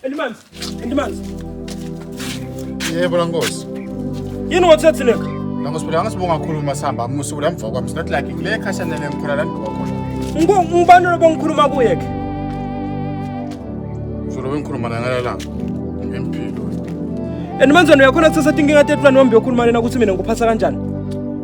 Elimanzi, elimanzi. Yebo la nkosi. Yini wathethe leka? La nkosi phela angasibonga kakhulu uma sihamba amusuku la mva kwami. Not like le khashana le ngikhona la ngibuka khona. Ngo ubani lo bengikhuluma kuye ke? Uzolo bengikhuluma la ngala la. Ngempilo. And manzwana uyakhona kusasa tinkinga tetulani wambe yokhuluma lena ukuthi mina ngikuphatha kanjani?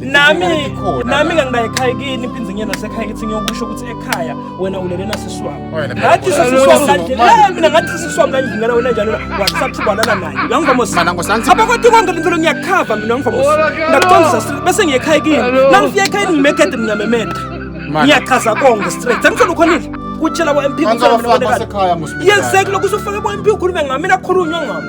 nami nami kangiba ekhaya kini impinzi ngiyena sekhaya kithi ngiyokusho ukuthi ekhaya wena ulele nasiswami ngathi sisiswami ngandlela eh, mina ngathi sisiswami ngandlela wena njalo wakusathi ubalala naye uyangivamos apha kodwa konke lento lo ngiyakhava mina ngivamos ngakutondisa bese ngiye ekhaya kini nangifika ekhaya kini ngimekede mina memede ngiyachaza konke straight sengifuna ukhonile kutshela kwa MP kusekhaya musibiyeke lokho usufake kwa MP ukhulume ngami mina khulunywa ngami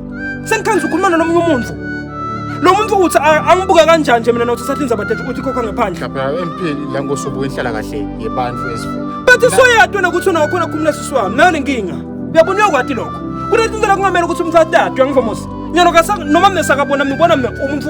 Sengikhangiza ukhuluma nalomunye umuntu. Lo muntu uthi angibuka kanjani nje mina nothi sathi nizaba date ukuthi khokha ngaphandle. Lapha empini la ngosubuka inhlala kahle yebantu esifu. Bathi soyadwa nokuthi unakhona khumula sisi wami. Nayo lenkinga. Uyabona uyakwati lokho. Kunezinto la kungamela ukuthi umthathe adwe ngivomosi. Nyalo ka noma mina sakabona mina ubona mina umuntu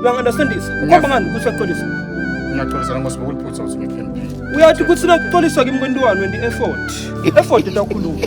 uyangi-understandisa ukhomba ngani ukuthi uyaxolisa ngiyaxolisa noma sibe uliphutha ukuthi ngiphendule uyathi ukuthi nakuxoliswa kimi kwentiwani wendi effort effort into akhuluma